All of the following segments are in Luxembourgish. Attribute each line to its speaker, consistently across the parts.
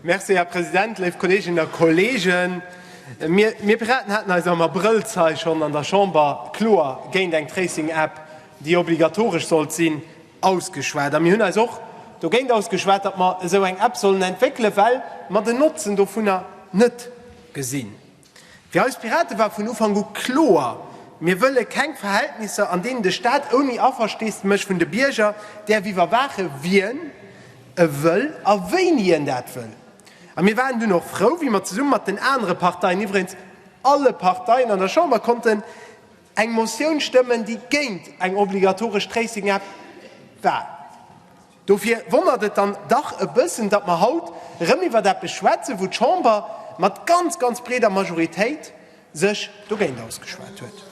Speaker 1: Merci, Här President, léif Kolleeginnen a Kolleegen. Mir, mir Piraten haten eis am Abrëll zei schonn an der Chamber kloer géint eng Tracing-App, déi obligatoresch sollt sinn, ausgeschwat. A mir hunn eis och dogéint ausgeschwat, datt mer esou eng App sollen entwéckelen, well mer den Notzen dovunner net gesinn. Fir eis Pirate war vun Ufank u kloer, Mir wëlle keng Verhältnisser, an deenen de Staat ouni Aversteesdemech vun de Bierger däerf iwwerwaachen, wien e wëll a wéini en dat wëll. A mir waren dunn och frou, wéi mer zesumme mat den anere Parteien, iwwregens alle Parteien an der Chamber, konnten eng Motioun stëmmen, déi géint eng obligatoresch Tracing-App war. Dofir wonnert et dann dach e bëssen, datt mer haut erëm iwwert eppes schwätzen, wou d'Chamber mat ganz, ganz breeder Majoritéit sech dogéint ausgeschwat huet.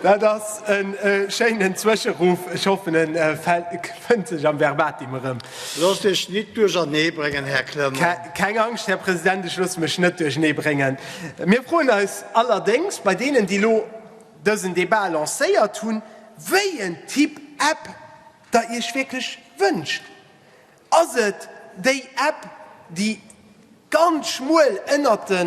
Speaker 1: Dat ass e schéinen Zwëscheruff, ech hoffen e fënnt sech am Verbatim erëm. Loosst Iech nit duerchernee bréngen, Här Clement. Keng Angscht, Här President, ech loosse mech net duerchernee bréngen. Mir froen eis allerdéngs bei deenen, déi elo, dësen Debat lancéiert hunn, wéi en Typ App Der Iech wierklech wënscht. Ass et déi App, déi ganz schmuel ënnert de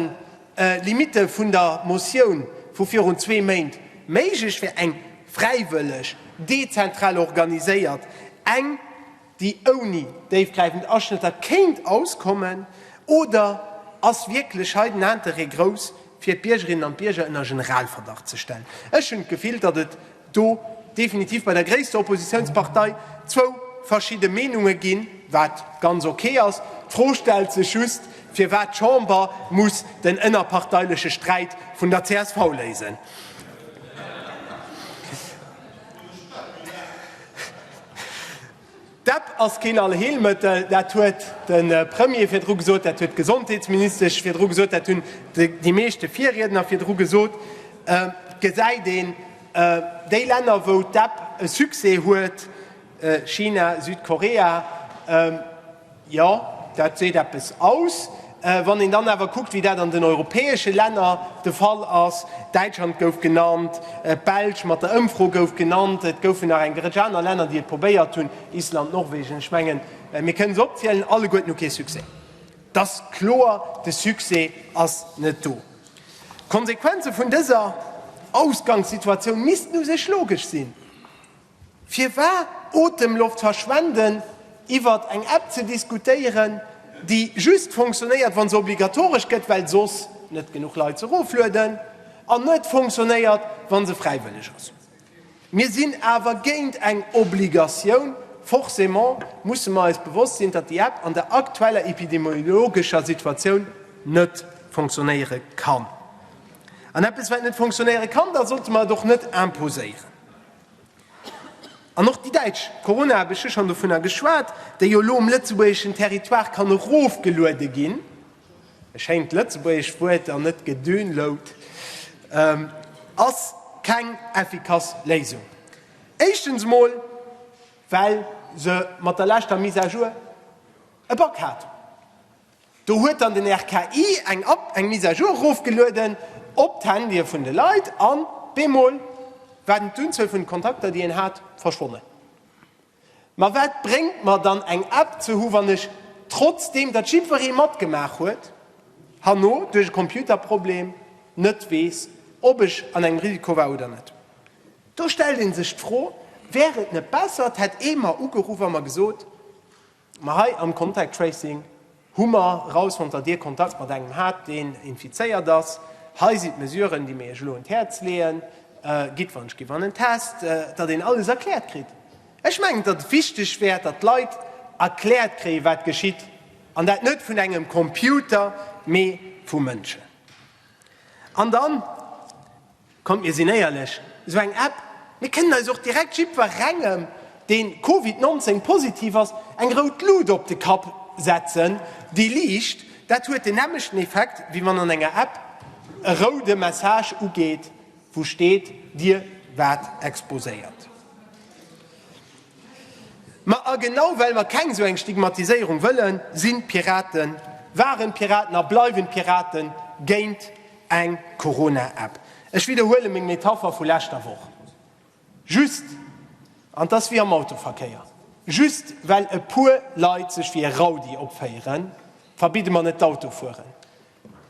Speaker 1: Limitte vun der Motioun vu virun zwee Méint méiglech wär, eng fräiwëlleg, dezentral organiséiert, eng, déi ouni déifgräifend Aschnëtter kéint auskommen, oder ass wierklech hei den Interêt grouss, fir d'Biergerinnen an d'Bierger ënner Generalverdacht ze stellen? Ech hunn d'Gefill, datt et do definitiv bei der gréisster Oppositiounspartei zwou verschidde Meenunge ginn, wat ganz ok ass. D'Fro stellt sech just, firwat d'Chamber muss den ënnerparteileche Sträit vun der csv léisen. Dat ass keen Allheelmëttel, dat huet de Premier virdru gesot, dat huet d'Gesondheetsministesch virdru gesot, dat hunn déi meeschte Virriedner virdru gesot. Et gesäit een, déi Länner, wou d'App e Succès huet, China, Südkorea, Jo, dat seet eppes aus. Wann een dann awer kuckt, wéi dat an den europäesche Länner de Fall ass, Däitschland gouf genannt, d'Belsch mat der Ëmfro gouf genannt, et goufen nach eng Rëtsch aner Länner, déi et probéiert hunn, Island, Norwegen, ech mengen, mir kënnen se opzielen, alleguerten hu kee Succès. Et ass kloer, de Succès ass net do. D'Konsequenze vun dëser Ausgangssituatioun missten u sech logesch sinn. Firwar Otemloft verschwenden, iwwer eng App ze diskutéieren, déi just funktionéiert, wa se obligatoresch gëtt, well soss net genuch Leit se eroflueden, an net funktionéiert, wa se fräiwëlleg ass? Mir sinn awer géint eng Obligatioun. Forcément musse mer eis bewosst sinn, datt déi App an der aktueller epidemiologescher Situatioun net funktionéiere kann. An eppes, wat net funktionéiere kann, da sollte mer et och net imposéieren. An och déi däitsch Corona, hab ech jo schonn dovunner geschwat, déi jo elo um lëtzebuergeschen Territoire kann erofgeluede ginn, e schéint lëtzebuergesch Wuert an net gedownload, ass keng effikass Léisung. Éischtens emol, well se mat der leschter Mise à jour e Bug hat. Do huet dann den RKI eng App, eng Mise à jour erofgelueden op d'Handye vun de Leit an bemol war d'Unzuel vun de Kontakter, déi een hat, verschwonnen. Ma wat bréngt mer dann eng App ze hu wann ech, trotzdeem datt jiddweree matgemaach huet, herno duerch e Computerproblem net weess, ob ech an engem Risiko war oder net? Do stellt ee sech d'Fro, Wär et net besser, et hätt ee mer ugeruff a mer gesot, Ma hei am Contact Tracing hu mer erausfonnt, datt Dir Kontakt mat engem hat, deen infizéiert ass. Hei sinn d'Mesuren, déi mir Iech elo un d'Häerz leeën. Gitt wann ech ginn an en Test, datt een alles erkläert kritt. Ech mengen, datt et wichteg wär, datt d'Leit erkläert kréien, wat geschitt, an dat net vun engem Computer, mee vu Mënschen. An dann. Kommt mir sinn éierlech, esou eng App, mir kënnen eis och direkt jiddwerengem deen Covid 19 positiv ass eng rout Luut op de Kapp setzen, déi liicht, dat huet den nämlechten Effekt wéi wann an enger App e roude Message ugeet wou steet dir waart exposéiert. Ma a genau well mer keng esou eng Stigmatiséierung wëllen, sinn d'Piraten, waren d'Piraten a bleiwen d'Piraten géint Eng Corona-App, ech widderhuele meng Metapher vu leschter Woch, just, an et ass wéi am Autoverkéier, just well e puer Leit sech wéi e Raudi opféieren, verbidde mer net d'Autofueren.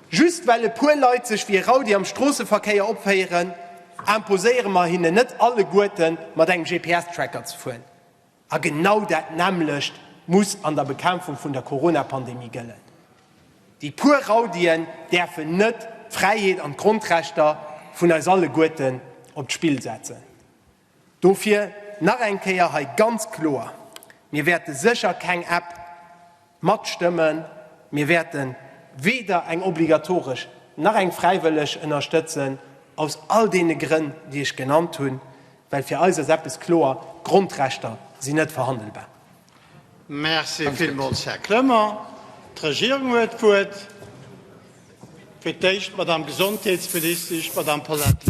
Speaker 1: Just well e puer Leit sech wéi e Raudi am Stroosseverkéier opféieren, imposéiere mer hinnen net alleguerten mat engem GPS-Tracker ze fueren. A genau dat nämmlecht muss an der Bekämpfung vun der Corona-Pandemie gëllen. Déi puer Raudien däerfen net d'Fräiheet an d'Grondrechter vun eis alleguerten op d'Spill setzen. Dofir nach eng Kéier hei ganz kloer, Mir wäerte sécher keng App, Matstëmmen. Mir wäerte weder eng obligatoresch nach eng fräiwëlleg ënnerstëtzen, aus all deene Grënn, déi ech genannt hunn, well fir eis ass eppes kloer, D'Grondrechter sinn net verhandelbar. Merci villmools, Här Clement. D'Regierung huet d'Wuert. Fir d'éischt d'Madamm Gesondheetsministesch, d'Madamm Paulette Lenert.